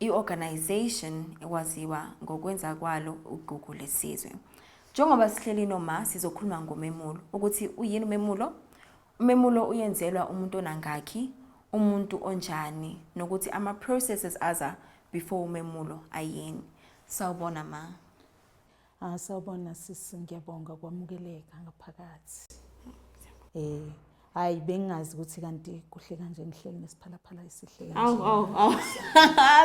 I-organisation ekwaziwa ngokwenza kwalo ugugu lesizwe. Njengoba sihleli noma sizokhuluma ngomemulo ukuthi uyini umemulo? Umemulo uyenzelwa umuntu onangakhi, umuntu onjani nokuthi ama processes aza before umemulo ayini. Sawubona ma. Ah sawubona sisi ngiyabonga kwamukeleka ngaphakathi. Eh hayi bengazi ukuthi kanti kuhle kanje ngihleli nesiphalaphala esihle kanje. Awu awu awu.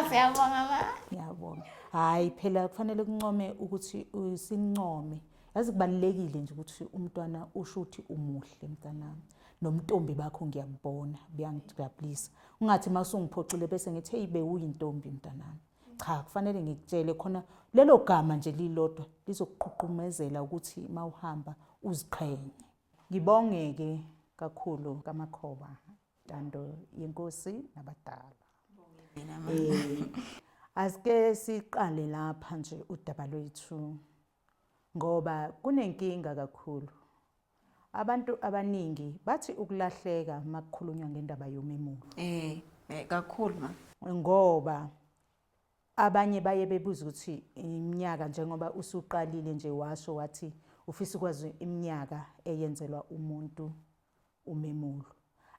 Siyabonga ma. Ngiyabonga. Hayi phela kufanele kuncome ukuthi usincome. Yazi kubalekile nje ukuthi umntwana usho ukuthi umuhle mntanami. Nomntombi bakho ngiyabona, buyangijabulisa. Ungathi masungiphoxile bese ngithi hey bewuyintombi mntanami. cha kufanele ngikutshele khona lelo gama nje lilodwa lizokuqhuqhumezela ukuthi mawuhamba uziqhenye ngibongeke kakhulu kamakhoba ntando yenkosi nabadala eh asike siqale lapha nje udaba lwethu Ngoba kunenkinga kakhulu. Abantu abaningi bathi ukulahleka makukhulunywa ngendaba yomemulo. Eh, eh kakhulu ma. Ngoba abanye baye bebuza ukuthi iminyaka njengoba usuqalile nje washo wathi ufisa ukwazi iminyaka eyenzelwa umuntu Umemulo.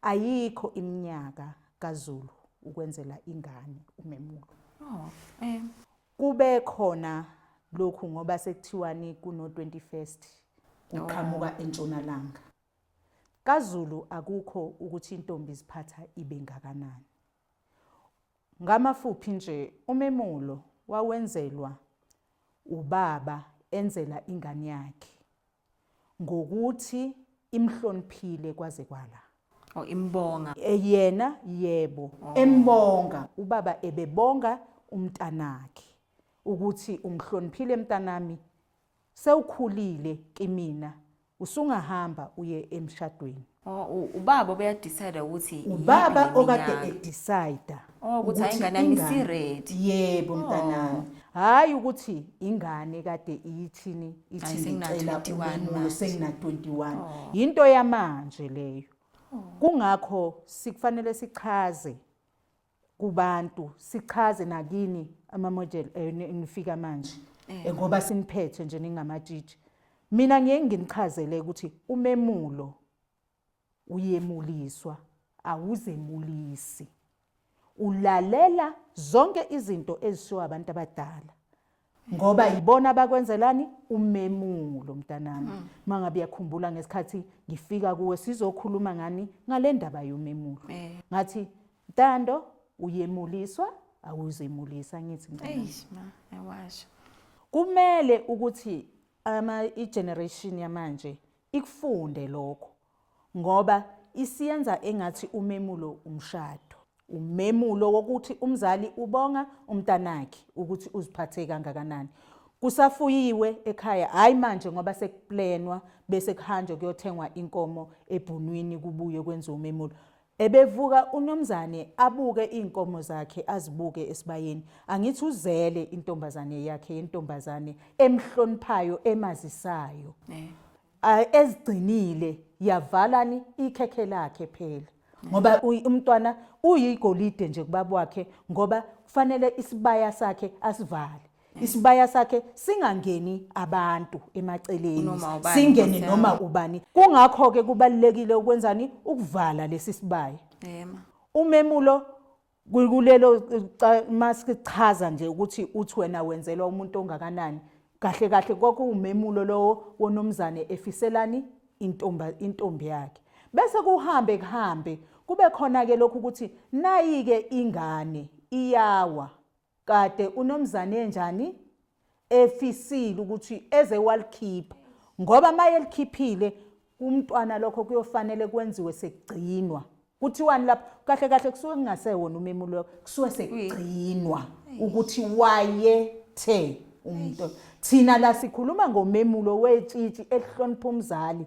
Ayikho iminyaka kaZulu ukwenzela ingane umemulo. Oh, eh. Kube khona lokhu ngoba sekuthiwani kuno 21st uqhamuka oh. entshonalanga. KaZulu akukho ukuthi intombi iziphatha ibe ngakanani. Ngamafuphi nje umemulo wawenzelwa ubaba enzela ingane yakhe. ngokuthi imhloniphile kwaze kwala oh imbonga eh, yena yebo oh. embonga ubaba ebebonga umntanakhe ukuthi umhloniphile mntanami sewukhulile kimina usungahamba uye emshadweni Oh, u- ubaba obeyadecide ukuthi ubaba iyiphi okade iminyaka. edecida Oh, ukuthi hhayi, ingane yami isi-ready. Oh. yebo mntanami hhayi ukuthi ingane kade iyithini Hhayi, ithi sengina- ngicela 21 umemulo manje. Oh. sengina-21 yinto yamanje leyo kungakho sikufanele sichaze kubantu sichaze nakini ama-model enifika manje eh. ngoba siniphethe nje ningamatshitshi mina ngiye nginichazele ukuthi umemulo uyemuliswa awuzemulisi ulalela zonke izinto ezishiwo abantu abadala ngoba yibona abakwenzelani umemulo mntanami mm. mangabe yakhumbula ngesikhathi ngifika kuwe sizokhuluma ngani ngalendaba yomemulo eh. ngathi ntando uyemuliswa awuzemulisa ngithi mntanami ayawasho kumele ukuthi ama i-generation yamanje ikufunde lokho ngoba isiyenza engathi umemulo umshado. Umemulo wokuthi umzali ubonga umntanakhe ukuthi uziphathe kangakanani. Kusafuyiwe ekhaya, hhayi manje ngoba sekuplenwa bese kuhanjwe kuyothengwa inkomo ebhunwini kubuye kwenziwe umemulo. Ebevuka unomzane abuke iy'nkomo zakhe azibuke esibayeni. Angithi uzele intombazane yakhe yentombazane emhloniphayo emazisayo. Eh. ezigcinile yavalani ikhekhe lakhe phela ngoba umntwana uyigolide nje kubaba wakhe ngoba kufanele isibaya sakhe asivale isibaya sakhe singangeni abantu emaceleni singene noma ubani kungakho ke kubalekile ukwenzani ukuvala lesi sibaya umemulo kulelo masichaza nje ukuthi uthi wena wenzelwa umuntu ongakanani kahle kahle kwakuwumemulo lowo wonomzane efiselani intomba intombi yakhe bese kuhambe kuhambe kube khona ke lokhu ukuthi nayike ingane iyawa Kade unomzane enjani efisile ukuthi eze walikhipha ngoba maye likhiphile kumntwana lokho kuyofanele kwenziwe sekugcinwa kuthiwani lapho kahle kahle kusuke kungasewona umemulo wakho kusuke sekugcinwa ukuthi wayethe umuntu thina la sikhuluma ngomemulo wetshitshi elihlonipha umzali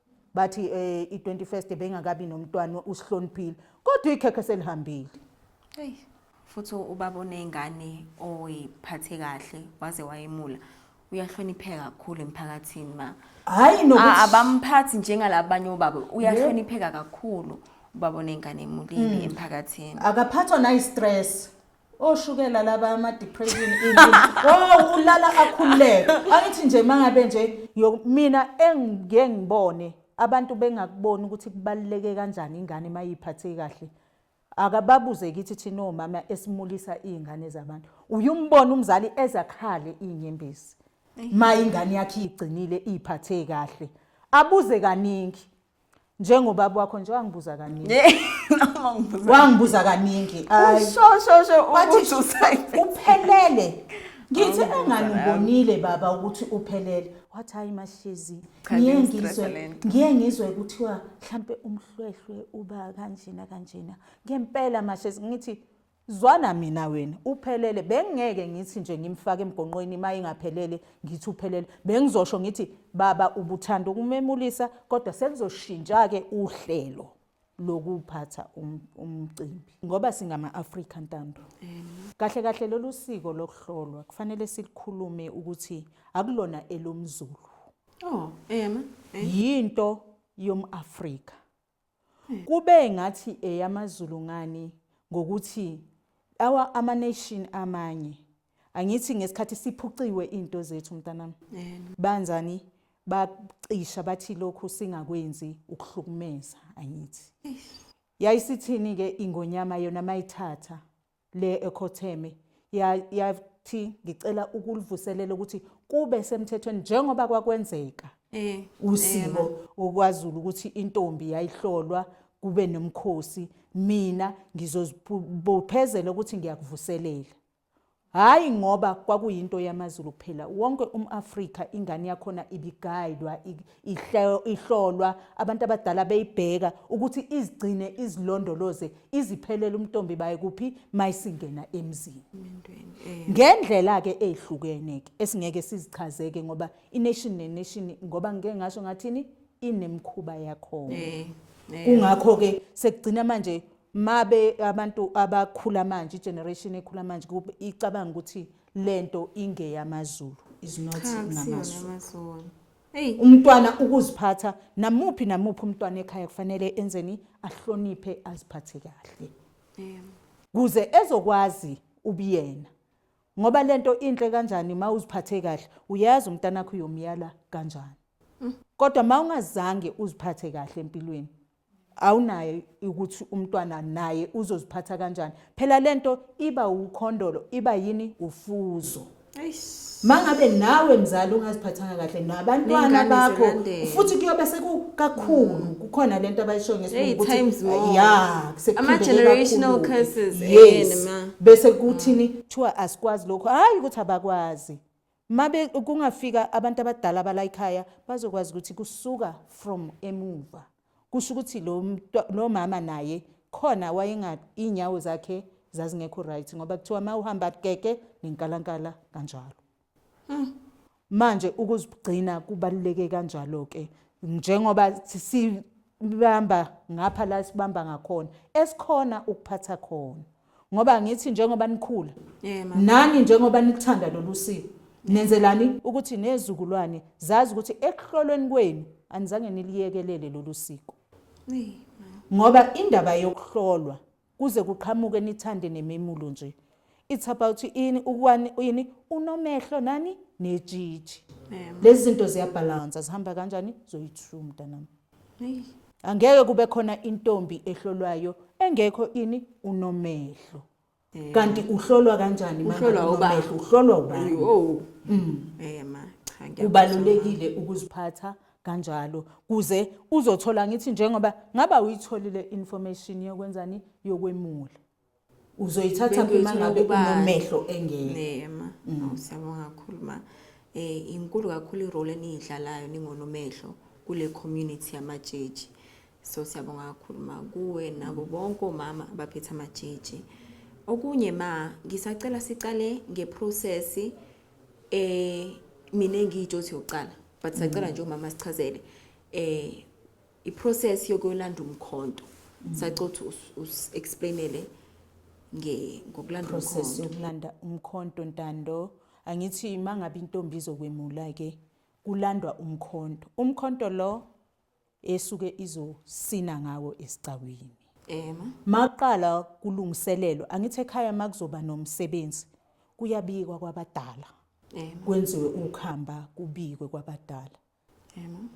bathi eh, i-21st bengakabi nomntwana usihloniphile kodwa ikhekhe selihambile eyi futhi ubaba oney'ngane oyiphathe kahle waze wayemula uyahlonipheka kakhulu emphakathini ma hhayi A- nokuthi abamphathi njengalabanye obaba uyahlonipheka kakhulu ubaba oney'ngane emulini emphakathini akaphathwa nayi-stress oshukela laba ama depression oh ulala akhululeke angithi nje mangabe nje mina engike ngibone abantu bengakuboni ukuthi kubaluleke kanjani ingane mayiphathe kahle akababuze kithi thina omama esimulisa izingane zabantu uyumbona umzali ezakhale inyembezi mayingane yakhe igcinile iphathe kahle abuze kaningi njengobaba wakho nje wangibuza kaningi wangibuza kaningi uphelele ngithi engani ubonile baba ukuthi uphelele wathi hayi mahlezi ngiye ngizwe ngiye ngizwe kuthiwa mhlampe umhlwehlwe uba kanjena kanjena ngempela mahlezi ngithi Zwana mina wena uphelele bengingeke ngithi nje ngimfaka emgonqweni uma ingaphelele ngithi uphelele bengizosho ngithi baba ubuthanda ukumemulisa kodwa selizoshintsha ke uhlelo lokuphatha um, umcimbi ngoba singama-afrika ntando kahle kahle lolu siko lokuhlolwa kufanele silikhulume ukuthi akulona elomzulu oh, yinto yom-afrika kube ngathi eyamaZulu ngani ngokuthi awa ama-nation amanye angithi ngesikhathi siphuciwe into zethu mntanami banzani bacisha bathi lokhu singakwenzi ukuhlukumeza angithi yayisithini-ke ingonyama yona mayithatha le ekhotheme yathi ngicela ukulivuselela ukuthi kube semthethweni njengoba kwakwenzeka eh, usiko eh, okwaZulu ukuthi intombi yayihlolwa kube nomkhosi mina ngizozibophezela ukuthi ngiyakuvuselela hayi ngoba kwakuyinto yamaZulu kuphela wonke umAfrika ingane yakhona ibigayidwa ihlolwa abantu abadala beyibheka ukuthi izigcine izilondoloze iziphelele umntombi baye kuphi mayisingena emzini eh. ngendlela ke ezihlukene ke esingeke sizichazeke ngoba ination nenation ngoba ngeke ngasho ngathini inemkhuba yakho eh, eh. kungakho ke sekugcina manje mabe abantu abakhula manje generation ekhula manje icabanga ukuthi lento ingeyamazulu is not ngamazulu Eyi umntwana ukuziphatha namuphi namuphi umntwana ekhaya kufanele enzeni ahloniphe aziphathe kahle. Kuze ezokwazi ubuyena. Ngoba lento inhle kanjani uma uziphathe kahle uyazi umntana wakho uyomyala kanjani. Mm. Kodwa uma ungazange uziphathe kahle empilweni awunayo ukuthi umntwana naye uzoziphatha kanjani phela lento iba ukhondolo iba yini ufuzo mangabe nawe mzali ungaziphathanga kahle nabantwana bakho futhi kuyobe sekukakhulu mm. kukhona lento abayisho ngesilungu ukuthi yeah ama generational curses yini ma bese kuthini kuthiwa asikwazi lokho hayi ukuthi abakwazi Mabe kungafika abantu abadala balayikhaya bazokwazi ukuthi kusuka from emuva. Kusho ukuthi lo lo mama naye khona wayenga inyawo zakhe zazingekho right ngoba kuthiwa uma uhamba keke nenkalankala kanjalo. Hmm. Manje ukuzigcina kubaluleke kanjalo ke njengoba sibamba ngapha la sibamba ngakhona esikhona ukuphatha khona. ngoba ngithi njengoba nikhula nani njengoba nikuthanda lolu siko nenzelani ukuthi nezukulwane zazi ukuthi ekuhlolweni kwenu anizange niliyekelele lolu siko ngoba indaba yokuhlolwa kuze kuqhamuke nithande nememulo nje it's about ini ukwani ini unomehlo nani nejiji lezi zinto ziyabhalansa zihamba kanjani zoyi-two mntanami angeke kube khona intombi ehlolwayo engekho ini unomehlo eh. kanti uhlolwa kanjani uhlolwa ubani uhlolwa ubani oh mm. eh ma cha kubalulekile ukuziphatha kanjalo kuze uzothola ngithi njengoba ngaba uyitholile information yokwenzani yokwemula uzoyithatha Bengizwe uma ngabe ukuba- unomehlo engeke nema Awu, siyabonga kakhulu ma eh inkulu kakhulu irole eniyidlalayo ningonomehlo kule community yamajeji so siyabonga kakhulu ma kuwe nabo bonke omama abaphethe amajeji okunye ma ngisacela siqale ngeprocess eh mina ngiyitsho ukuthi yokuqala but sacela nje umama sichazele eh iprocess yokuyolanda umkhonto sacothi usi-explainele nge- ngokulanda process umkhonto yokulanda umkhonto ntando angithi uma ngabe intombi izokwemula ke kulandwa umkhonto umkhonto lo esuke izosina ngawo esicakwini ema maqala kulungiselelo angithi ekhaya makuzoba nomsebenzi kuyabikwa kwabadala ema kwenziwe ukhamba kubikwe kwabadala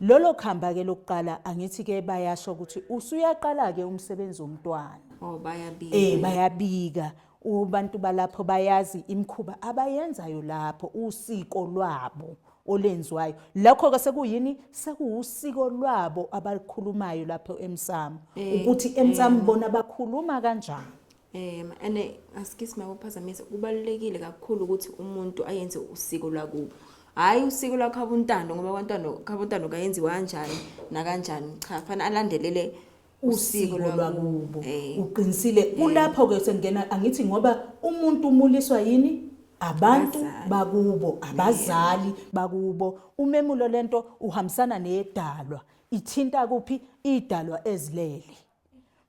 lolo khamba ke lokuqala angithi ke bayasho ukuthi usuyaqala ke umsebenzi womntwana oh bayabika eh bayabika ubantu balapho bayazi imkhuba abayenzayo lapho usiko lwabo olenziwayo lakho ke sekuyini sekuwusiko lwabo abakhulumayo lapho emsamo eh, ukuthi emsamo eh. bona bakhuluma kanjani Um ane askisi makuphazamisa kubalulekile kakhulu ukuthi umuntu ayenze usiko lwakubo hhayi usiko lwakhabontando ngoba kwantando khabontando kayenziwa kanjani nakanjani cha fanele alandelele usiko lwakubo eh. uqinisile eh. kulapho ke sengena angithi ngoba umuntu umuliswa yini abantu bakubo eh. abazali bakubo umemulo lento uhambisana nedalwa ithinta kuphi idalwa ezilele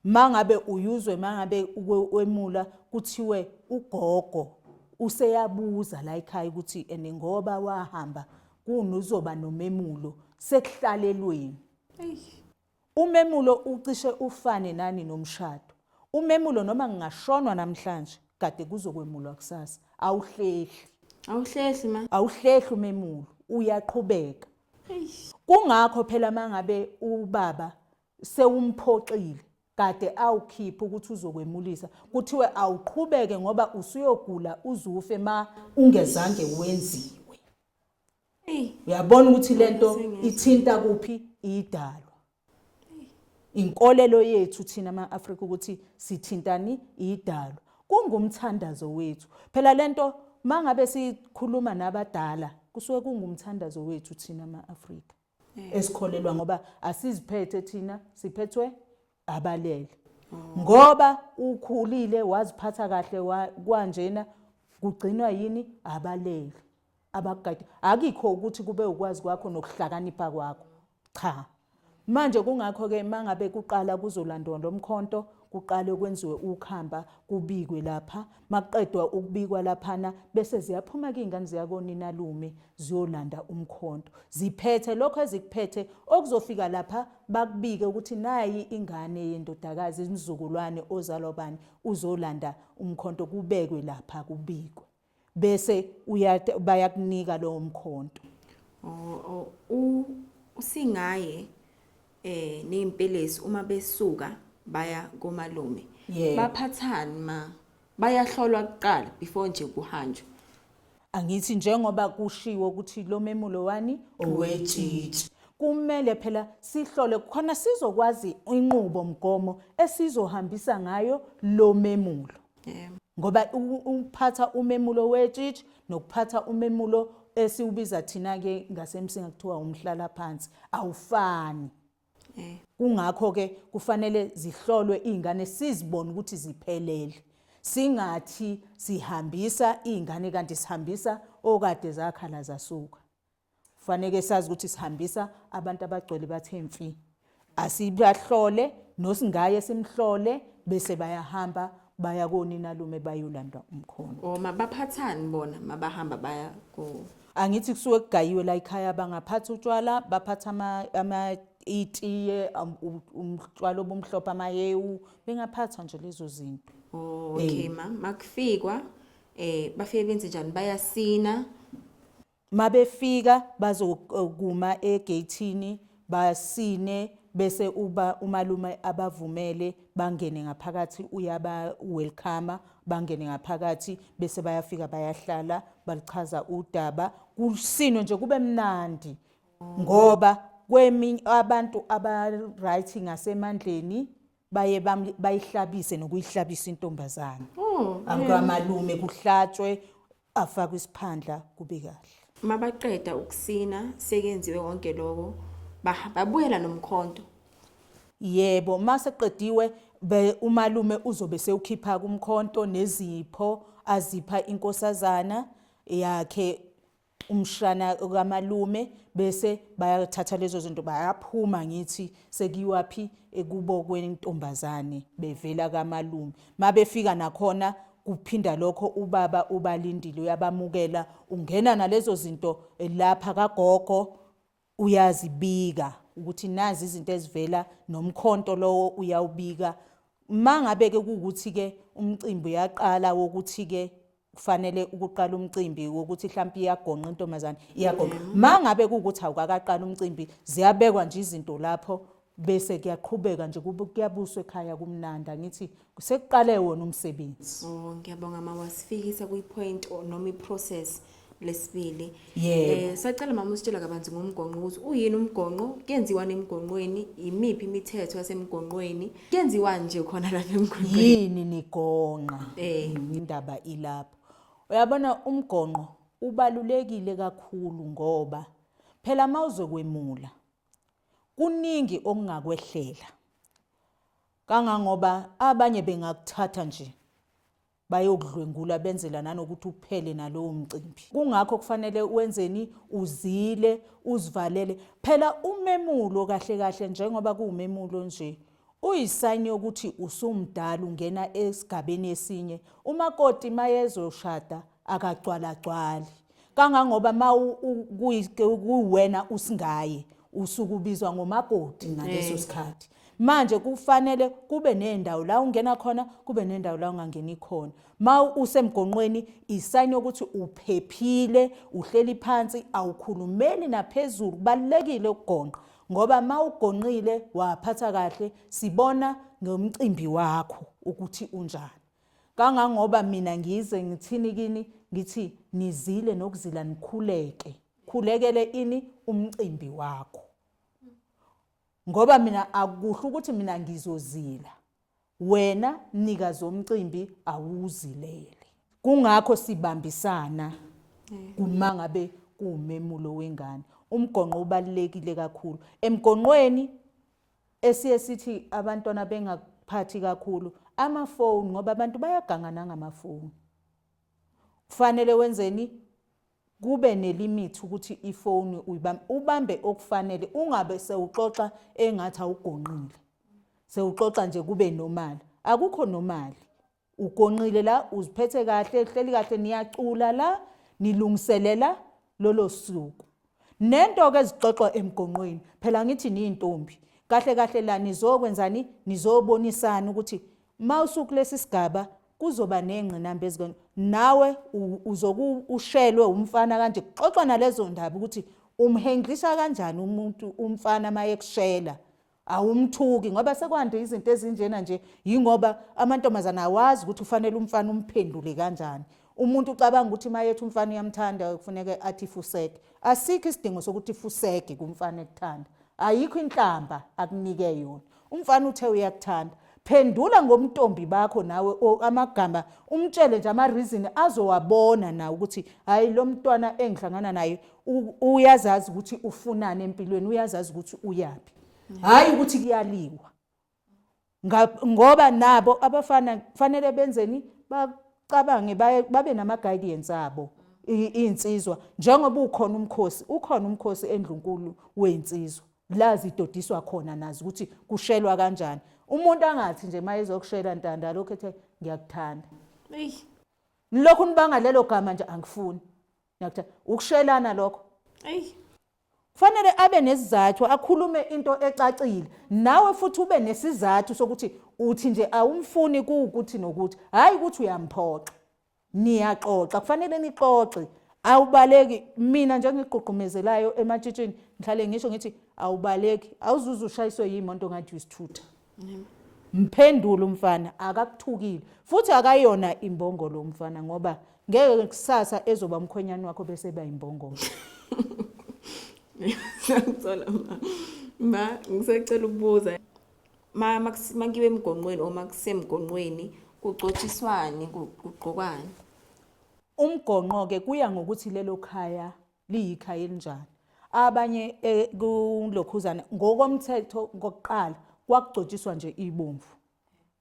mangabe uyuzwe mangabe wemula kuthiwe ugogo useyabuza la ekhaya ukuthi ene ngoba wahamba kunozoba nomemulo sekuhlalelweni umemulo ucishe ufane nani nomshado umemulo noma ngingashonwa namhlanje kade kuzokwemulwa kusasa awuhlehli awuhlehli ma awuhlehli umemulo uyaqhubeka kungakho phela mangabe ubaba sewumphoxile kade awukhiphe ukuthi uzokwemulisa kuthiwe awuqhubeke ngoba usuyogula uzufe ma ungezange wenziwe uyabona ukuthi lento ithinta kuphi idalwa inkolelo yethu thina ama-afrika ukuthi sithintani idalwa kungumthandazo wethu phela lento mangabe sikhuluma nabadala kusuke kungumthandazo wethu thina ama-afrika eh. esikholelwa ngoba asiziphethe thina siphethwe abalele oh. ngoba ukhulile waziphatha kahle kwanjena kugcinwa yini abalele abakugadi akikho ukuthi kube ukwazi kwakho nokuhlakanipha kwakho cha manje kungakho ke mangabe kuqala kuzolandwa lomkhonto kuqale kwenziwe ukhamba kubikwe lapha makuqedwa ukubikwa laphana bese ziyaphuma kingane ziyakonina lume ziyolanda umkhonto ziphethe lokho ezikuphethe okuzofika lapha bakubike ukuthi nayi ingane yendodakazi imzukulwane ozalwa bani uzolanda umkhonto kubekwe lapha kubikwe bese bayakunika lowo mkhonto usingaye eh nezimpelesi uma besuka baya komalume baphathani ma bayahlolwa kuqala before nje kuhanjwa angithi njengoba kushiwo ukuthi lo memulo wani owetshitshi kumele phela sihlole khona sizokwazi inqubo mgomo esizohambisa ngayo lo memulo yebo ngoba ukuphatha umemulo wetshitshi nokuphatha umemulo esiwubiza thina ke ngasemsinga kuthiwa umhlala phansi awufani eh. kungakho ke kufanele zihlolwe izingane sizibone ukuthi ziphelele singathi sihambisa izingane kanti sihambisa okade zakhala zasuka Kufaneke sazi ukuthi sihambisa abantu abagcwele bathe mfi. Asibahlole nosingaye simhlole bese bayahamba baya koninalume bayolanda umkhono. O mabaphathani bona mabahamba baya ko Angithi kusuke kugayiwe la ekhaya bangaphatha utshwala baphatha ama ama itiye um, u- umtshwala obumhlophe amahewu bengaphatha nje lezo zinto. Oh, okay ma makufikwa eh bafike benze njani bayasina Mabefika bazokuma egeyithini basine bese uba umalume abavumele bangene ngaphakathi uyaba welcome bangene ngaphakathi bese bayafika bayahlala balichaza udaba kusinwe nje kube mnandi ngoba kweminye abantu aba right ngasemandleni baye bayihlabise nokuyihlabisa intombazana oh, akamalume kuhlatshwe afakwe isiphandla kube kahle. Mabaqeda ukusina sekenziwe konke lokho babuyela nomkhonto. Yebo, mase qediwe umalume uzobe sewukhipha kumkhonto nezipho azipha inkosazana yakhe umshana kamalume bese bayathatha lezo zinto bayaphuma ngithi sekiwaphi ekubo kwentombazane bevela kamalume mabefika nakhona Kuphinda lokho ubaba ubalindile uyabamukela ungena nalezo zinto lapha kagogo uyazibika ukuthi nazi izinto ezivela nomkhonto lowo uyawubika mangabe ke ukuthi ke umcimbi uyaqala wokuthi ke kufanele ukuqala umcimbi wokuthi mhlawumbe iyagonqa intombazane iyagonqa mm. mangabe ukuthi awukakaqala umcimbi ziyabekwa nje izinto lapho bese kuyaqhubeka nje kuyabuswa ekhaya kumnandi angithi sekuqale wona umsebenzi oh ngiyabonga mama wasifikisa kwi point noma i process lesibili eh sacela mama usitshela kabanzi ngomgonqo ukuthi uyini umgonqo kuyenziwa nemgonqweni imiphi imithetho yasemgonqweni kuyenziwa nje khona lapha emgonqweni yini nigonqa eh indaba ilapho uyabona umgonqo ubalulekile kakhulu ngoba phela mawuzokwemula Kuningi okungakwehlela kangangoba abanye bengakuthatha nje bayokudlwengula benzela nanokuthi uphele nalowo mcimbi. Kungakho kufanele wenzeni uzile uzivalele. Phela umemulo kahle kahle njengoba kuwumemulo nje Uyisayini yokuthi usumdala ungena esigabeni esinye. Umakoti mayezoshada akagcwalagcwali. Kangangoba ma kuwena usingaye usuke ubizwa ngomakoti ngaleso eh. sikhathi. Manje kufanele kube nendawo la ungena khona, kube nendawo la ungangeni khona. Ma usemgonqweni isayini yokuthi uphephile, uhleli phansi, awukhulumeli naphezulu. Kubalulekile ukugonqa. ngoba ma ugonqile waphatha kahle sibona ngomcimbi wakho ukuthi unjani kangangoba mina ngize ngithini kini ngithi nizile nokuzila nikhuleke khulekele ini umcimbi wakho ngoba mina akuhle ukuthi mina ngizozila Wena mnikazi womcimbi awuzileli. Kungakho sibambisana uma ngabe kuwumemulo wengane. Umgonqo ubalulekile kakhulu. Emgonqweni esiye sithi abantwana bengaphathi kakhulu amafoni ngoba abantu bayaganga nangamafoni. Kufanele wenzeni? Kube nelimithi ukuthi ifoni uyibambe, ubambe okufanele ungabe sewuxoxa engathi awugonqile. Sewuxoxa nje kube normal. Akukho normal. Ugonqile la, uziphethe kahle, uhleli kahle, niyacula la, nilungiselela lolo suku. Nento ke ezixoxwa emgonqweni, phela ngithi nintombi. Kahle kahle la nizokwenzani? Nizobonisana ukuthi mawusuku lesisigaba kuzoba nengqinamba ezikweni nawe uzoku ushelwe umfana kanje kuxoxwa nalezo ndaba ukuthi umhendlisa kanjani umuntu umfana mayekushela awumthuki ngoba sekwande izinto ezinjena nje yingoba amantombazana awazi ukuthi ufanele umfana umphendule kanjani umuntu ucabanga ukuthi mayethi umfana uyamthanda kufuneka athi fuseke asikho isidingo sokuthi fuseke kumfana ekuthanda ayikho inhlamba akunike yona Umfana uthe uyakuthanda. Phendula ngomntombi bakho nawe or amagama umtshele nje ama reason azowabona nawe ukuthi hayi lo mntwana engihlangana naye uyazazi ukuthi ufunani empilweni uyazazi ukuthi uyaphi. Hayi ukuthi kuyaliwa. Ngoba nabo abafana kufanele benzeni bacabange babe nama guidance abo. iy'nsizwa njengoba ukhona umkhosi ukhona umkhosi endlunkulu wey'nsizwa la zidodiswa khona nazi ukuthi kushelwa kanjani umuntu angathi nje uma ezokushela ntanda lokho ethe ngiyakuthanda nilokhu nibanga lelo gama nje angifuni ngiyakuthanda ukushelana lokho kufanele abe nesizathu akhulume into ecacile nawe futhi ube nesizathu sokuthi uthi nje awumfuni kuwukuthi nokuthi hhayi ukuthi uyamphoxa Niyaxoxa, kufanele nixoxe. Awubaleki. Mina nje engikugqugqumezelayo ematshitshini ngihlale ngisho ngithi awubaleki. Awuzuze ushayiswe yimonto ngathi uyisithutha. Mphendula umfana akakuthukile futhi akayona imbongo lo mfana ngoba ngeke kusasa ezoba umkhwenyana wakho bese ba imbongo. Ngiyacela ma. Ma ngisacela ukubuza. makiwe emgonqweni or makusemgonqweni kucotshiswane kugqokwani umgonqo-ke kuya ngokuthi lelo khaya liyikhaya elinjani abanye eh, kulokhuzane ngokomthetho kokuqala kwakugcotshiswa nje ibomvu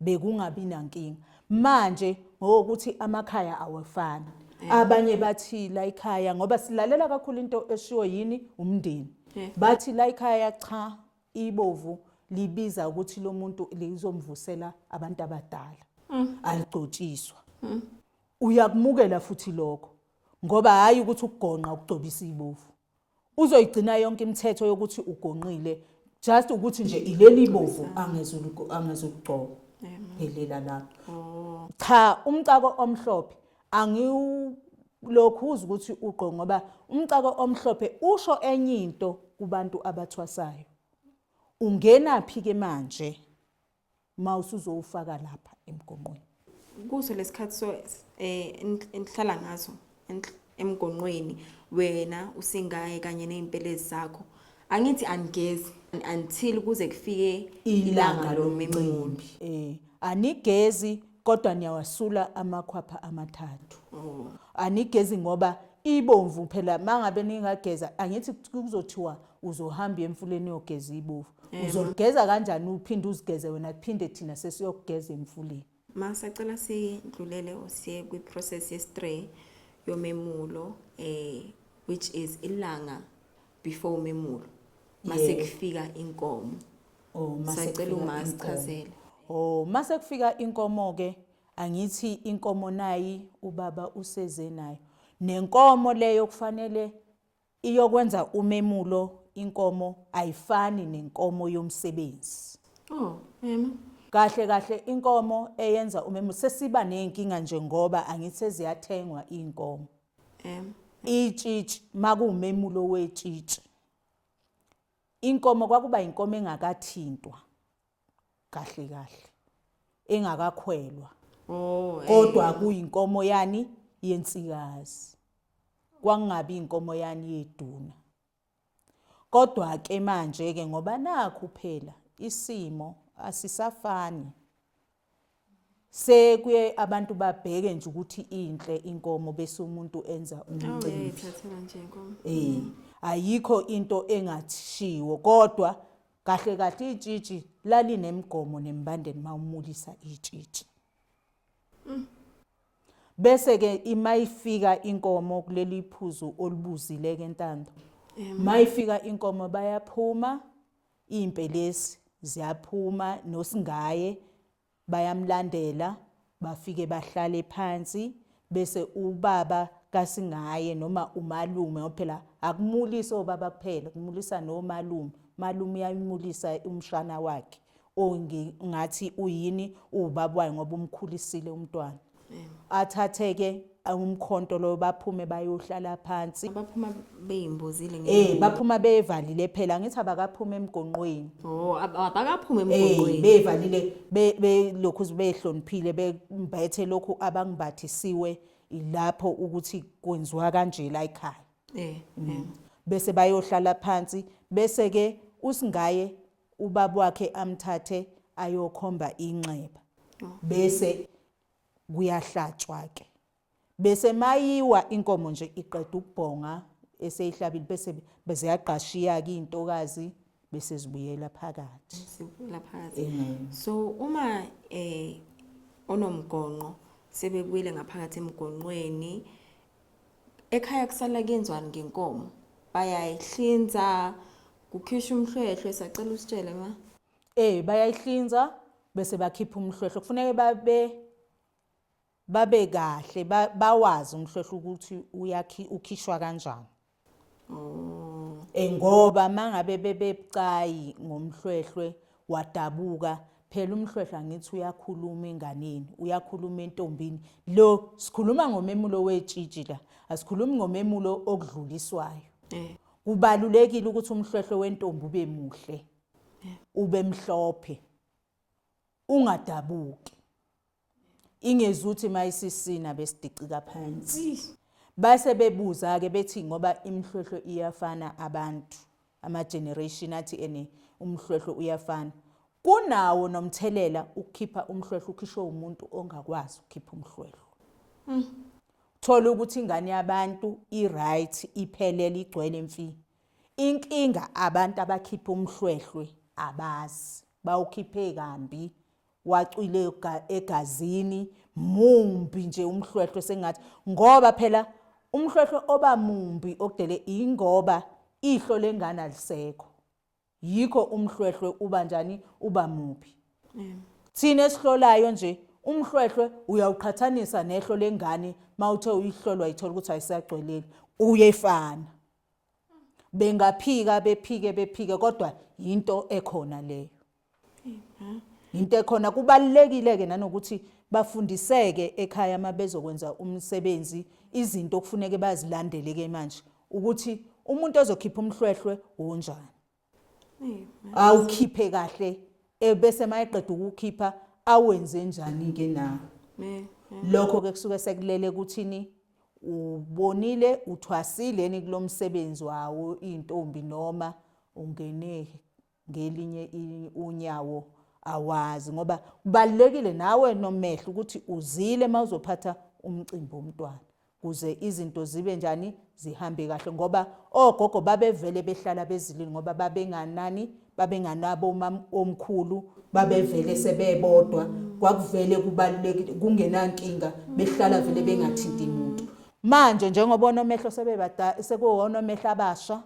bekungabi nankinga manje ngokuthi amakhaya awafani abanye bathi la ikhaya ngoba silalela kakhulu into eshiwo yini umndeni bathi la ikhaya cha Ibovu libiza ukuthi lo muntu lizomvusela abantu abadala. Mm. Aligcotshiswa. Mm. Uyakumukela futhi lokho ngoba hayi ukuthi ukugonqa ukugcobisa ibovu. Uzoyigcina yonke imithetho yokuthi ugonqile just ukuthi nje ileli bovu angezulu angezukugcoba. Phelela lapho. Oh. Cha umcako omhlophe angiwulokhu uze ukuthi ugqo ngoba umcako omhlophe usho enye into kubantu abathwasayo ungenaphi ke manje uma usuzowufaka lapha emgonqweni kuso lesikhathi so eh enhlala ngaso emgonqweni wena usingaye kanye nezimpelezi zakho angithi angigezi until kuze kufike ilanga lomcimbi eh anigezi kodwa niyawasula amakhwapha amathathu oh. anigezi ngoba ibomvu phela mangabe ningageza angithi kuzothiwa uzohamba emfuleni yogeza ibovu eh, uzogeza kanjani uphinde uzigeze wena kuphinde thina sesiyokugeza emfuleni ma sacela sidlulele usiye kwi-process ye-stray yomemulo eh which is ilanga before umemulo mase Yeah. kufika inkomo Oh, mase sacela kufika uma inkomo. sichazele Oh, mase kufika inkomo ke angithi inkomo nayi ubaba useze nayo. Nenkomo leyo kufanele iyokwenza umemulo inkomo ayifani nenkomo yomsebenzi. oh mema Kahle kahle inkomo eyenza umemulo sesiba nezinkinga nje ngoba angithi seziyathengwa inkomo. M. Itshitshi makuwumemulo wetshitshi. Inkomo kwakuba inkomo engakathintwa kahle kahle engakakhwelwa. Oh, Kodwa kuyinkomo yani yensikazi. Kwangabi inkomo yani yeduna. Kodwa ke manje ke ngoba nakhu phela isimo asisafani sekuye abantu babheke nje ukuthi inhle inkomo bese umuntu enza umcimbi eh ayikho into engathishiwo kodwa kahle kahle itshitshi lalinemgomo nembandeni mawumulisa itshitshi Mm. Bese ke imayifika inkomo kuleli phuzu olibuzile ke ntando. Mayifika inkomo bayaphuma impelesi ziyaphuma nosingaye bayamlandela bafike bahlale phansi bese ubaba kasingaye noma umalume phela akumulisa obaba kuphela kumulisa nomalume malume uyayimulisa umshana wakhe or ngi- ngathi uyini uwubaba wayo ngoba umkhulisile umntwana athatheke umkhonto loyo baphume bayohlala phansi abaphuma beyimbozile um ngenye baphuma bevalile phela angithi abakaphume emgonqweni oh ab- abakaphume Eh, emgungqweni bevalile be- belokhu nje behloniphile bembethe lokhu abangibathisiwe ilapho ukuthi kwenziwa kanje la ekhaya eh eh. bese bayohlala phansi bese ke usingaye ubaba wakhe amthathe ayokhomba inxeba bese kuyahlatshwa ke bese mayiwa inkomo nje iqeda ukubhonga eseyihlabile bese beziyagqashiya ke intokazi bese zibuyela phakathi sibuyela phakathi so uma eh onomgonqo sebebuyile ngaphakathi emgonqweni ekhaya kusala kenzwani ngenkomo bayayihlinza kukhishwa umhlwehlwe sacela usitshele ma eh bayayihlinza bese bakhipha umhlwehlwe kufuneka babe babe kahle bawazi umhlwehlwe ukuthi uyakhi ukhishwa kanjani Mm. Eh, ngoba mangabe bebebucayi ngomhlwehlwe wadabuka phela umhlwehlwe angithi uyakhuluma enganeni uyakhuluma entombini lo sikhuluma ngomemulo wetshitshi la asikhulumi ngomemulo okudluliswayo eh. kubalulekile ukuthi umhlwehlwe wentombi ube muhle eh. ube mhlophe ungadabuki Ingezuthi mayisisina besidicika phansi. Base bebuza ke bethi ngoba imhlwehlo iyafana abantu ama generation athi ene umhlwehlo uyafana. Kunawo nomthelela ukukhipha umhlwehlo ukhishwe umuntu ongakwazi ukukhipha umhlwehlo. Mm. Thola ukuthi ingane yabantu i right iphelele igcwele mfi. Inkinga abantu abakhipha umhlwehlwe abazi bawukhiphe kambi wacwile egazini mumbi nje umhlwehlwe sengathi ngoba phela umhlwehlwe oba mumbi okudele ingoba ihlo lengane alisekho yikho umhlwehlwe uba njani uba mubi thina esihlolayo nje umhlwehlwe uyawuqhathanisa nehlo lengane mawuthe uyihlolwa ithola ukuthi ayisagcweleli uyefana bengaphika bephike bephike kodwa yinto ekhona leyo into ekhona kubalulekile ke nanokuthi bafundiseke ekhaya uma bezokwenza umsebenzi izinto okufuneke bazilandele ke manje ukuthi umuntu ozokhipha umhlwehlwe wonjani awukhiphe kahle ebese mayeqeda ukukhipha awenze njani ke nawo lokho ke kusuke sekulele kuthini ubonile uthwasile ni kulomsebenzi wawo intombi noma ungene ngelinye unyawo awazi ngoba kubalulekile nawe nomehlo ukuthi uzile uma uzophatha umcimbi womntwana kuze izinto zibe njani zihambe kahle ngoba ogogo babevele behlala bezilini ngoba babenganani babenganabo omkhulu babevele sebebodwa kwakuvele kubalulekile kungenankinga behlala vele bengathinti muntu manje njengoba onomehlo sebebada sekuwona omehlo abasha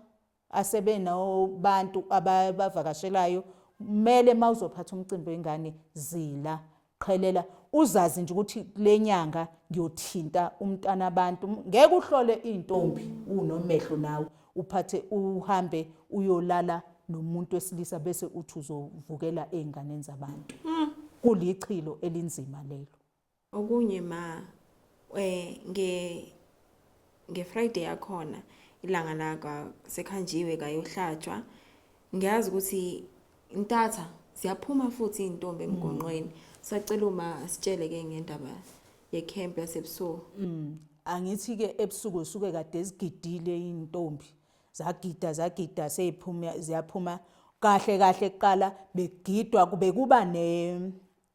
asebe no bantu ababavakashelayo mele mawuzophatha umcimbi wengane zila qhelela uzazi nje ukuthi kulenyanga ngiyothinta umntana abantu ngeke uhlole intombi unomehlo nawe uphathe uhambe uyolala nomuntu wesilisa bese uthi uzovukela ezinganeni zabantu mm. kulichilo elinzima lelo Okunye ma eh nge nge Friday yakhona ilanga la ka sekhanjiwe kayohlatshwa ngiyazi ukuthi intatha siyaphuma futhi intombi emgonqweni sacela uma sitshele ke ngendaba ye camp yasebusuku Mm. Angithi ke ebusuku zisuke kade zigidile intombi. Zagida zagida seyiphuma ziyaphuma kahle kahle kuqala begidwa kube kuba ne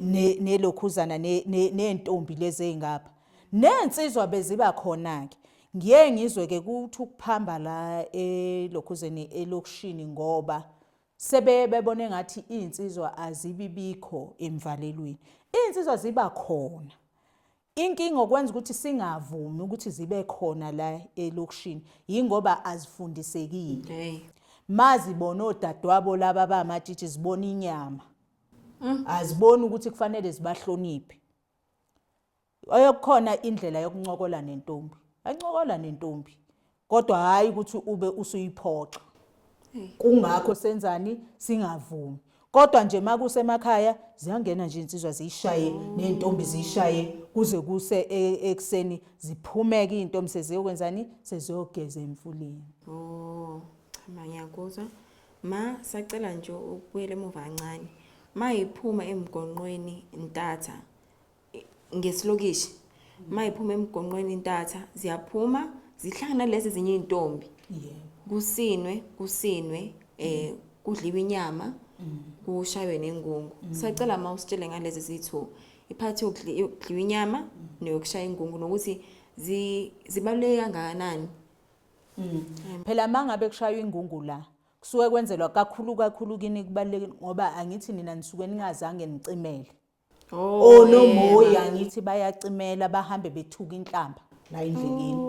ne nelokhuzana nentombi lezi ezingapha nensizwa beziba khona ke ngiye ngizwe ke kuthi ukuphamba la elokhuzeni elokushini ngoba sebe bebone ngathi insizwa azibibikho emvalelweni insizwa ziba khona Inkinga okwenza ukuthi singavumi ukuthi zibe khona la elokishini yingoba azifundisekile. Okay. Mazibona odadewabo laba abamatshitshi zibona inyama. Mm. Aziboni ukuthi kufanele zibahloniphe. Oyokukhona indlela yokuncokola nentombi. Ancokola nentombi. kodwa hhayi ukuthi ube usuyiphoxa kungakho senzani singavumi kodwa nje makusemakhaya ziyangena nje insizwa ziyishaye nentombi ziyishaye kuze kuse e, ekseni ziphumeke izintombi seziyokwenzani seziyogeza emfuleni oh chama ngiyakuzwa ma sacela nje ukubuyela emuva kancane mayiphuma emgonqweni ntatha ngesilokishi mayiphuma emgonqweni intatha ziyaphuma zihlangana lezi zinye izintombi kusinwe kusinwe eh kudliwa inyama mm. kushaywe nengungu mm. sacela uma usitshele ngalezi zithu iphathi yokudliwa inyama mm. neyokushaya ingungu nokuthi zibaluleke kangakanani phela mangabe kushaywa ingungu la kusuke kwenzelwa kakhulu kakhulu kini kubalulekile ngoba angithi nina nisuke ningazange nicimele Oh, onomoya yena. ngithi bayacimela bahambe bethuka inhlamba la endleleni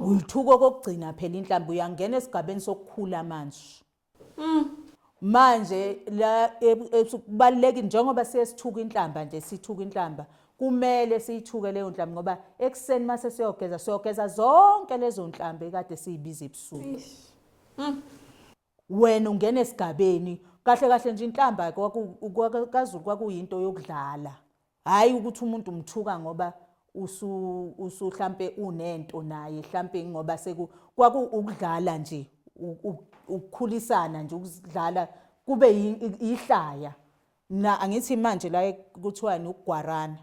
uyithuka okokugcina phela inhlamba uyangena esigabeni sokukhula manje manje la ebu- ebu- kubalulekile njengoba siye sithuka inhlamba nje sithuka inhlamba kumele siyithuke leyo nhlamba ngoba ekuseni uma sesiyogeza siyogeza zonke lezo nhlamba ekade siyibiza ebusuku Wena ungena esigabeni kahle kahle nje inhlamba kaZulu kwakuyinto yokudlala hhayi ukuthi umuntu umthuka ngoba usu hlampe unento naye hlampe ngoba seku kwaku ukudlala nje ukukhulisana nje ukudlala kube ihlaya Mna angithi manje la kuthiwani ukugwarana.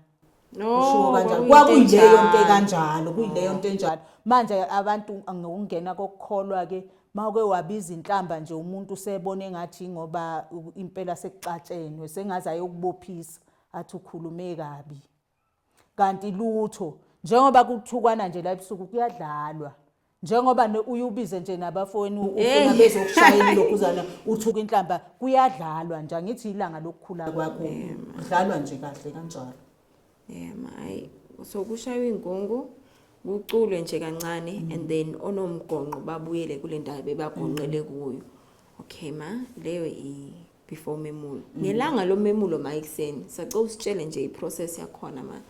Ushiwo kanjalo. Kwakuyileyo nto kanjalo, kuyileyo nto enjalo. Manje abantu ngokungena kokukholwa ke mawuke wabiza inhlamba nje umuntu usebona engathi ingoba impela sekuxatshenwe sengaze ayokubophisa athi ukhulume kabi. Kanti lutho njengoba kuthukwana nje la ebusuku kuyadlalwa. Njengoba ne- uye ubize nje nabafowenu ufuna Hey. bezokushayela ilokhuzana uthuka inhlamba kuyadlalwa nje angithi ilanga lokukhula kwakho kudlalwa nje kahle kanjalo. Yema hayi so kushaywa ingungu kuculwe nje kancane and then onomgonqo babuyele kule ndawo bebagonqele kuyo. Okay ma leyo i before umemulo mm. ngelanga lomemulo ma ekuseni sacela usitshele nje iprocess yakhona ma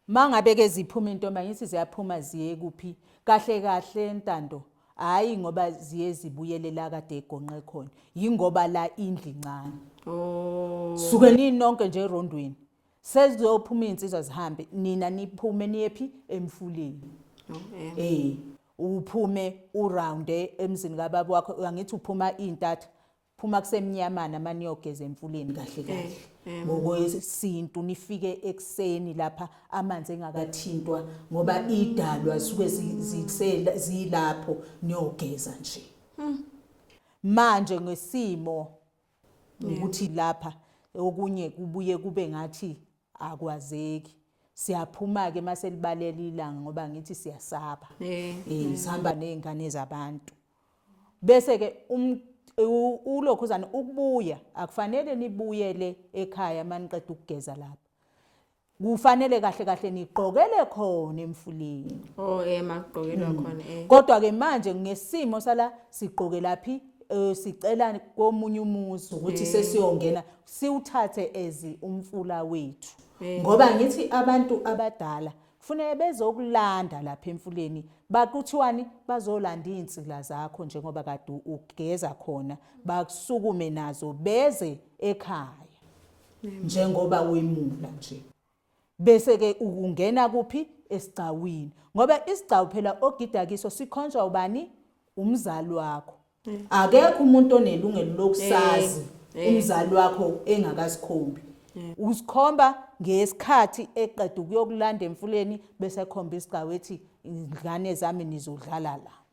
ma ngabe ke ziphuma intomba ngithi ziyaphuma ziye kuphi kahle kahle ntando hayi ngoba ziye zibuyele la kade egonqe khona yingoba la indli ncane oh suke ninonke nje erondweni sezizophuma izinsizwa zihambe nina niphume niyephi emfuleni oh eh Uphume urounde emzini kababa wakho angithi uphuma intatha phuma kusemnyamana maniyogeza emfuleni kahle kahle eh, ngokwesintu nifike ekuseni lapha amanzi engakathintwa ngoba idalwa suke zilapho niyogeza nje hmm. manje ngesimo ukuthi lapha okunye kubuye kube ngathi akwazeki siyaphuma-ke uma selibalela ilanga ngoba ngithi siyasaba eh, eh, eh. sihamba ney'ngane zabantu bese-ke um, ulokhuzane ukubuya akufanele nibuyele ekhaya uma niqeda ukugeza lapha Kufanele kahle kahle nigqokele khona emfuleni. Oh eh makugqokelwa mm. khona eh. Kodwa ke manje ngesimo sala sigqoke laphi eh, sicela komunye umuzi ukuthi eh. sesiyongena siwuthathe ezi umfula wethu. Eh. Ngoba ngithi abantu abadala kufanele bezokulanda lapha emfuleni bakuthiwani bazolanda izinsila zakho njengoba kade ugeza khona bakusukume nazo beze ekhaya njengoba wemula nje bese ke ukungena kuphi esigcawini ngoba isigcawu phela ogida kiso sikhonjwa ubani umzali wakho akekho umuntu onelungelo lokusazi eh, eh. umzali wakho engakasikhombi eh. usikhomba ngesikhathi eqeda ukuyokulanda emfuleni bese khomba isigcawu ethi ingane zami nizodlala la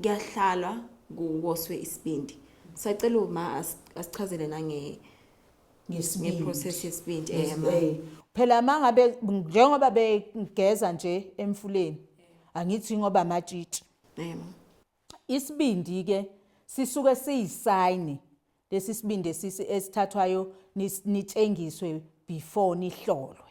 kuyahlalwa kuwoswe isibindi sacela uma asichazele nange ngeprocess yesibindi eh, phela mangabe njengoba begeza nje emfuleni angithi ngoba amatshitshi isibindi ke sisuke siyisayini lesi sibindi esithathwayo nitshengiswe before nihlolwe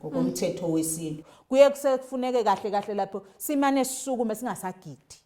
ngokomthetho mm. wesintu kuye kusefuneke kahle kahle lapho simane sisukume singasagidi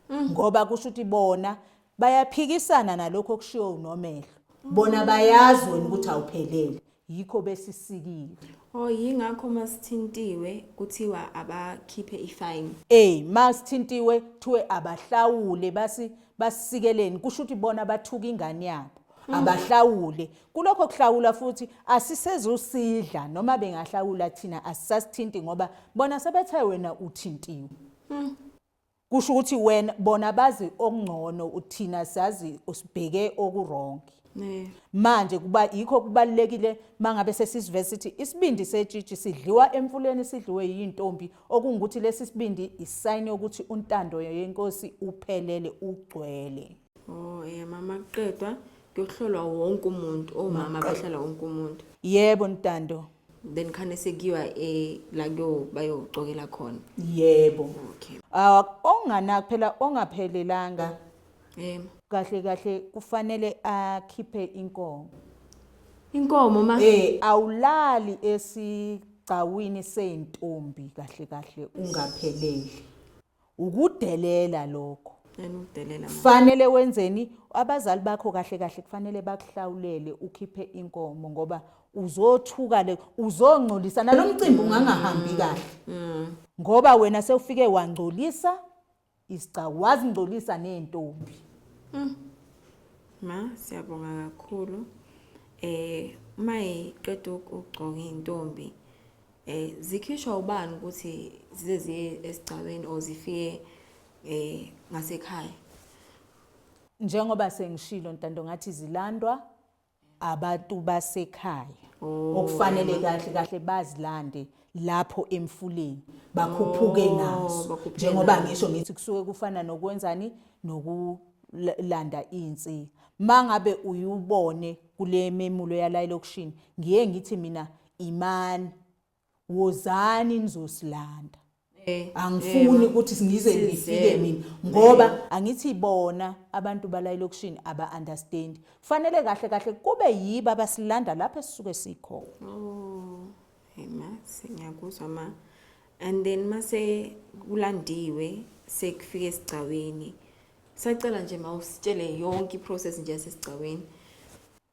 mm. ngoba kusho ukuthi bona bayaphikisana nalokho okushiwo unomehlo mm. bona bayazi wena ukuthi awuphelele yikho besisikile oh yingakho masithintiwe kuthiwa abakhiphe ifine eh masithintiwe kuthiwe abahlawule basi basikeleni kusho ukuthi bona bathuka ingane yabo Mm. abahlawule kulokho kuhlawula futhi asisezusidla noma bengahlawula thina asisasithinti ngoba bona sebethe wena uthintiwe mm. kusho ukuthi wena bona bazi okungcono uthina sazi usibheke okurongi manje kuba yikho kubalekile mangabe sesisivese sithi isibindi setshitshi sidliwa emfuleni sidliwe yintombi okungukuthi lesi sibindi isayini ukuthi untando yenkosi uphelele ugcwele Oh, eh mama kuqedwa kuyohlolwa wonke umuntu omama bahlala wonke umuntu. Yebo Ntando. Then khane sekuyiwa eh la kuyo bayocokela khona. Yebo. Okay. Ah ongana kuphela ongaphelelanga. Eh kahle kahle kufanele akhiphe inkomo. Inkomo ma Eh awulali esigcawini seintombi kahle kahle ungapheleli. Ukudelela lokho. Yena udelela manje. Fanele wenzeni? Abazali bakho kahle kahle kufanele bakuhlawulele ukhiphe inkomo ngoba uzothuka le uzongcolisa nalomcimbi ungangahambi kahle. Ngoba wena sewufike wangcolisa isigcawu wazingcolisa nezintombi. Ma siyabonga kakhulu. Eh uma iqeda ukugcoka intombi Eh zikhishwa ubani ukuthi zize ziye esigcawini or zifike eh ngasekhaya. Njengoba sengishilo ntando ngathi zilandwa abantu basekhaya. Oh. Okufanele kahle kahle bazilande lapho emfuleni bakhuphuke oh, nazo njengoba ngisho ngithi kusuke kufana nokwenzani nokulanda insika mangabe uyubone kule memulo yala elokishini ngiye ngithi mina imani wozani nizosilanda eh, angifuni eh, ukuthi ngize ngifike mina ngoba eh. angithi bona abantu bala elokishini aba understand kufanele kahle kahle kube yiba basilanda lapho esisuke sikho oh hey ma singiyakuzwa ma and then mase kulandiwe sekufike esigcawini sacela nje mawusitshele yonke iprocess nje yasesigcawini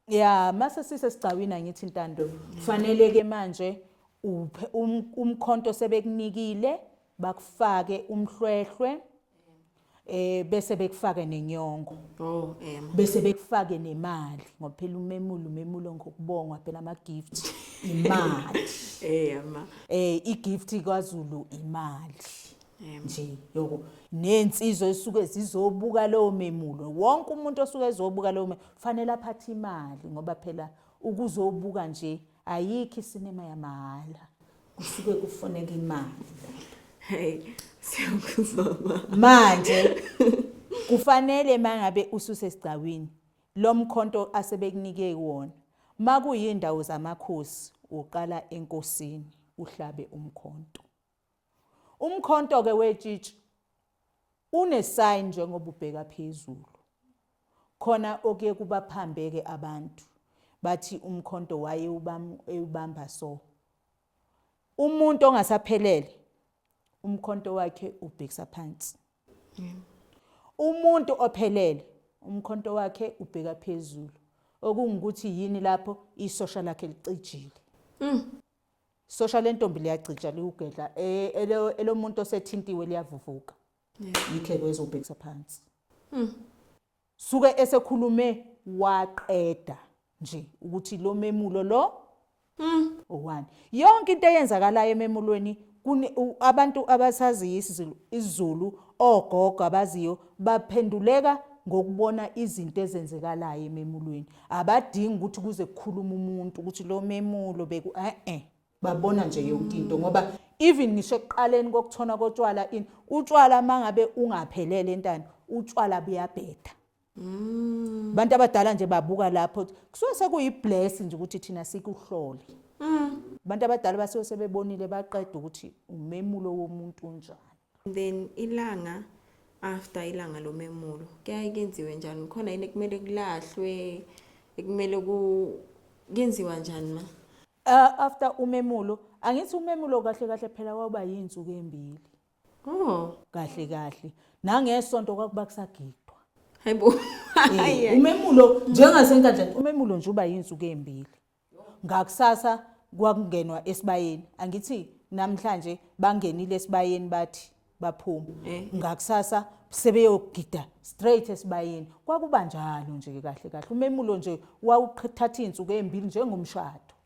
ya mase sisesigcawini angithi ntando kufanele ke manje uphe um, umkhonto sebekunikile bakufake umhlwehlwe eh bese bekufake nenyongo oh ema bese bekufake nemali ngoba phela umemulo umemulo ngokubongwa phela ama gift imali eh ema eh i gift kwaZulu imali nje yoko nensizwa esuke zizobuka lowo memulo wonke umuntu osuke ezobuka lowo Kufanele aphathe imali ngoba phela ukuzobuka nje ayikho isinema yamahhala. Kusuke kufuneka imali. Hey, siyakuzama. Manje kufanele mangabe ususe sigcawini lomkhonto asebekunike wona. Makuyindawo zamakhosi uqala enkosini uhlabe umkhonto. Umkhonto ke wetshitshi une sign njengoba ubheka phezulu. Khona okuye kubaphambeke abantu bathi umkhonto waye ubamba so. Umuntu ongasaphelele umkhonto wakhe ubhekisa phansi. Umuntu ophelele umkhonto wakhe ubheka phezulu. Okungukuthi yini lapho isosha lakhe licijile. Mm. Sosha lentombi liyacija liwugedla e- elo- elomuntu osethintiwe liyavuvuka. Yitheko ezobhekisa phansi. Suke esekhulume waqeda nje ukuthi lo memulo lo owani. Yonke into eyenzakalayo ememulweni Kuni u, abantu abasaziyo isiZulu, isiZulu, ogogo abaziyo baphenduleka ngokubona izinto ezenzekalayo ememulweni. Abadingi ukuthi kuze kukhuluma umuntu ukuthi lo memulo beku eh eh. Babona nje yonke into ngoba even ngisho ekuqaleni kokuthona kotshwala in utshwala mangabe ungaphelele entando utshwala buyabheda Mm. Abantu abadala nje babuka lapho kusuke sekuyibless nje ukuthi thina sikuhlole. Mm. Abantu abadala basuke sebebonile baqeda ukuthi umemulo womuntu unjani. Then ilanga after ilanga lomemulo kuyaye kenziwe njani khona yini ekumele kulahlwe ekumele ku kenziwa njani ma uh, after umemulo angithi umemulo kahle kahle phela waba yinsuku embili Oh. Kahle kahle. Nangesonto kwakuba kusagidwa. Hayibo. Eh, umemulo njengasenkandla umemulo nje uba yinsuku embili. Ngakusasa kwakungenwa esibayeni. Angithi namhlanje bangenile esibayeni bathi baphuma. Eh. Ngakusasa sebeyogida straight esibayeni. Kwakuba njalo nje kahle kahle. Umemulo nje wawuthatha izinsuku embili njengomshado.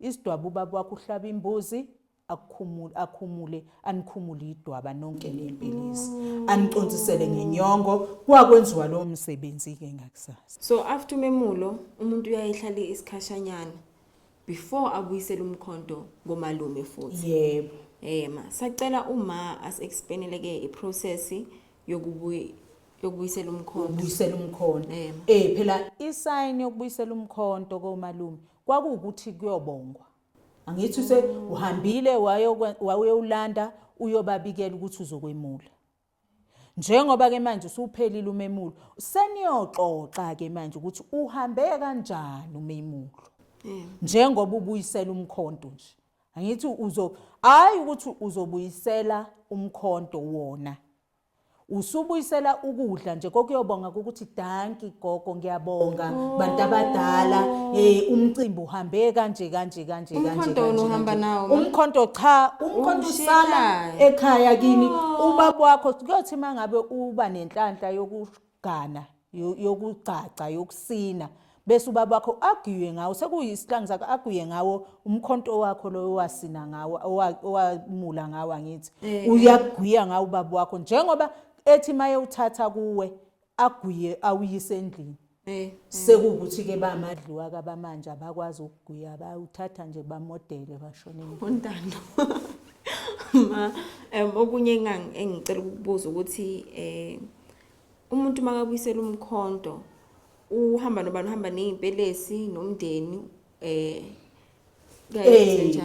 Isidwaba ubaba wakho uhlaba imbuzi akukhumule akhumule anikhumule idwaba nonke nempilizi mm. anicontsisele ngenyongo kwakwenziwa lo msebenzi ke ngakusasa so after umemulo umuntu uyayihlala isikhashanyana before abuyisele umkhonto ngomalume futhi yebo eh ma sacela uma as explainele ke i process yokubuyi yokubuyisela umkhonto ubuyisela umkhonto eh, eh phela isayini yokubuyisela umkhonto komalume kwakuwukuthi kuyobongwa angithi use uhambile wayowulanda uyobabikela ukuthi uzokwemula njengoba ke manje usuphelile umemulo seniyoxoxa ke manje ukuthi uhambe kanjani umemulo njengoba ubuyisela umkhonto nje angithi uzo hayi ukuthi uzobuyisela umkhonto wona Usubuyisela ukudla nje kokuyobonga ukuthi danki gogo ngiyabonga bantu abadala eh umcimbi uhambe kanje kanje kanje kanje Umkhonto wena kanje, uhamba kanje. nawo, ma? umkhonto cha umkhonto Uwushiya usala ekhaya. ekhaya kini ubaba wakho kuyothi mangabe uba nenhlanhla yoku Ghana yo- yokugcagca yokusina bese ubaba wakho agiye ngawo sekuyisihlangu sakho agiye ngawo umkhonto wakho loyo owasina ngawo owa- owamula ngawo angithi Eh. uyagwiya ngawo ubaba wakho njengoba ethi maye uthatha kuwe agwiye awuyise endlini Eh. sekuwukuthi-ke bamadliwa kabamanje abakwazi ukugwiya bawuthatha nje bamodele bashoneni untando ma um okunye engang- engicela ukukubuza ukuthi eh umuntu makabuyisela umkhonto uhamba nobani uhamba nezimpelesi nomndeni eh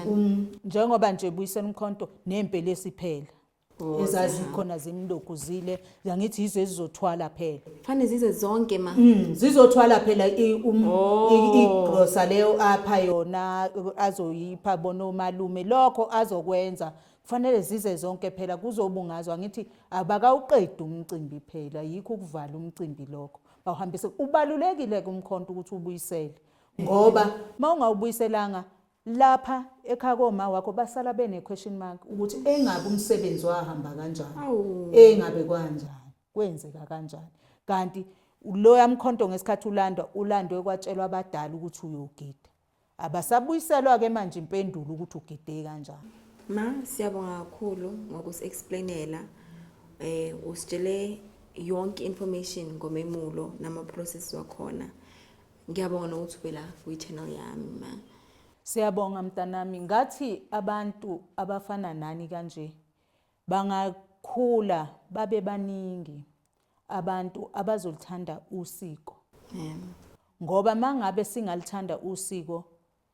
um, njengoba nje buyisela umkhonto nezimpelesi phela oh, ezazikhona zimlokuzile ngithi yizo ezizothwala phela fanele zize zonke ma mm, zizothwala phela um, oh. igrosa leyo apha yona azoyipha bona umalume lokho azokwenza Kufanele zize zonke phela kuzobungazwa ngithi abakawuqedi umcimbi phela yikho ukuvala umcimbi lokho bawuhambise ubalulekile ke umkhonto ukuthi ubuyisele ngoba mawungawubuyiselanga lapha ekhaya koma wakho basala bene question mark ukuthi engabe umsebenzi wahamba kanjani engabe kwanjani kwenzeka kanjani kanti loya mkhonto ngesikhathi ulandwa ulandwe kwatshelwa abadala ukuthi uyogida Abasabuyiselwa ke manje impendulo ukuthi ugidee kanjani. Ma siyabonga kakhulu ngokusi explainela eh usitshele yonke information ngomemulo nama process wakhona. Ngiyabonga nokuthi ube la kwi channel yami ma. Siyabonga mntanami ngathi abantu abafana nani kanje bangakhula babe baningi. abantu abazolithanda usiko ngoba mangabe singalithanda usiko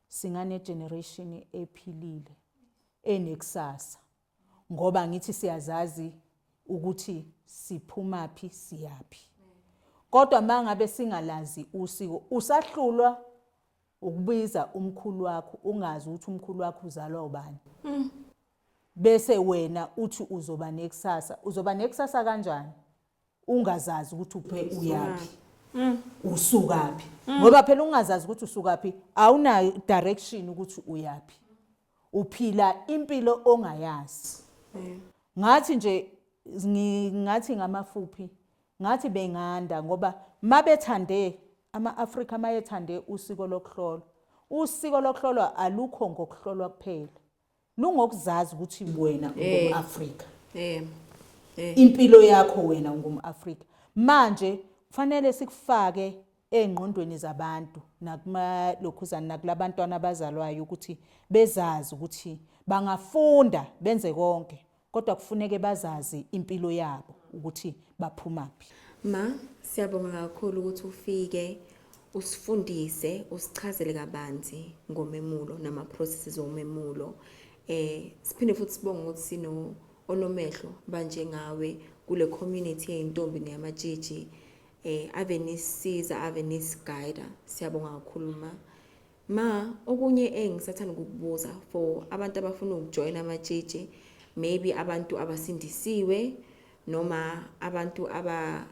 singane generation ephilile enekusasa ngoba ngithi siyazazi ukuthi siphumaphi siyaphi kodwa mangabe singalazi usiko usahlulwa ukubiza umkhulu wakho ungazi ukuthi umkhulu wakho uzalwa ubani mm. bese wena uthi uzoba nekusasa uzoba nekusasa kanjani ungazazi ukuthi uphe uyaphi mm. usukaphi mm. ngoba phela ungazazi ukuthi usukaphi awuna direction ukuthi uyaphi uphila impilo ongayazi mm. ngathi nje ngathi ngamafuphi ngathi benganda ngoba mabethande ama-afrika mayethande usiko lokuhlolwa usiko lokuhlolwa alukho ngokuhlolwa kuphela lungokuzazi ukuthi wena ungumAfrika eh eh impilo yakho wena ungumAfrika manje kufanele sikufake engqondweni zabantu nakuma lokhuzana nakulabantwana abazalwayo ukuthi bezazi ukuthi bangafunda benze konke Kodwa kufuneke bazazi impilo yabo ukuthi baphumaphi. Ma, siyabonga kakhulu ukuthi ufike usifundise usichazele kabanzi ngomemulo nama processes omemulo. Eh siphinde futhi sibonge ukuthi sino onomehlo banjengawe kule community yeyintombi neyamatshitshi eh ave nisiza ave nisiguide siyabonga kakhulu ma Ma, okunye engisathanda ukukubuza for abantu abafuna ukujoyina amatshitshi, maybe abantu abasindisiwe noma abantu aba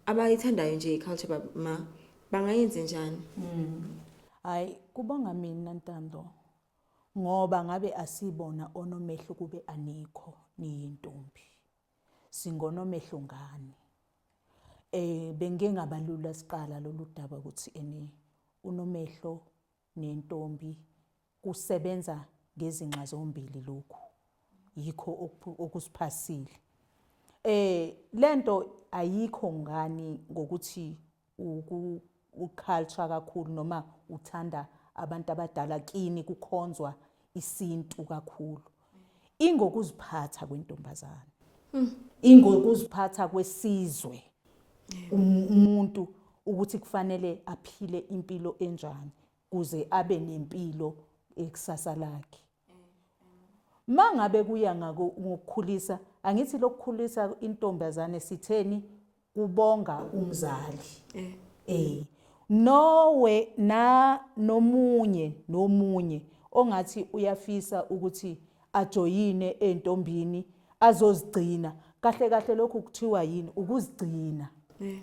abayithandayo nje i-culture ma bangayenze njani? Mm. Hayi kubonga mina Ntando ngoba ngabe asibona onomehlo kube anikho niyintombi. singonomehlo ngani eh bengingabalula siqala lolu daba ukuthi ene unomehlo nentombi kusebenza ngezinxa zombili lokhu yikho okusiphasile eh lento ayikho ngani ngokuthi uculture kakhulu noma uthanda abantu abadala kini kukhonzwa isintu kakhulu ingokuziphatha kwentombazane hmm. ingokuziphatha kwesizwe um, umuntu ukuthi kufanele aphile impilo enjani kuze abe nempilo ekusasa lakhe Mangabe kuya ngako ngokukhulisa angithi lokukhulisa intombazane sitheni kubonga umzali. Eh. Eh. Nowe na nomunye nomunye ongathi uyafisa ukuthi ajoyine entombini azozigcina kahle kahle lokhu kuthiwa yini ukuzigcina. Eh.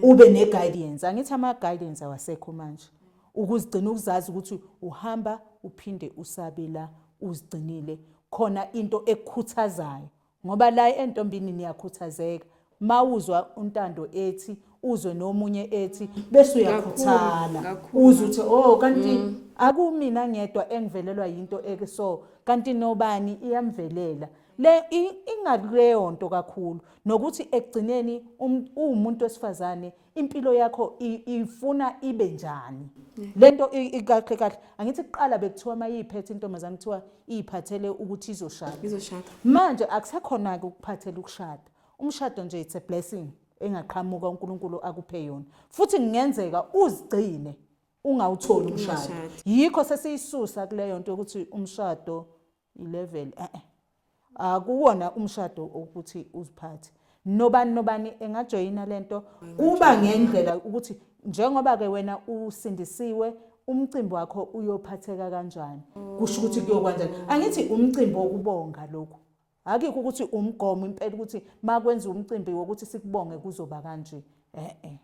Ube ne guidance angithi ama guidance awasekho manje. Ukuzigcina ukuzazi ukuthi uhamba uphinde usabe la uzigcinile khona into ekukhuthazayo ngoba la entombini niyakhuthazeka mawuzwa untando ethi uzwe nomunye ethi bese uyakhuthala uze uthi oh kanti mm. akumina ngedwa engivelelwa yinto eke so kanti nobani iyamvelela le ingakuleyo nto kakhulu nokuthi ekugcineni um, uwumuntu wesifazane impilo yakho ifuna ibe njani lento ikahle kahle angithi kuqala bekuthiwa mayiphethe intombazane kuthiwa iyiphathele ukuthi izoshada izoshada manje akusekhona ke ukuphathela ukushada umshado nje it's a blessing engaqhamuka uNkulunkulu akuphe yona futhi kungenzeka uzigcine ungawutholi umshado yikho sesiyisusa kuleyo nto ukuthi umshado ilevel eh eh akuwona umshado ukuthi uziphathe nobani nobani engajoyina lento kuba ngendlela ukuthi njengoba ke wena usindisiwe umcimbi wakho uyophatheka kanjani kusho ukuthi kuyokwanjani angithi umcimbi wokubonga lokho akikho ukuthi umgomo impela ukuthi makwenza umcimbi wokuthi sikubonge kuzoba kanje eh eh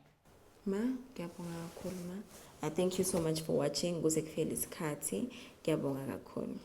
ma ngiyabonga kakhulu ma i thank you so much for watching kuze kuphele isikhathi ngiyabonga kakhulu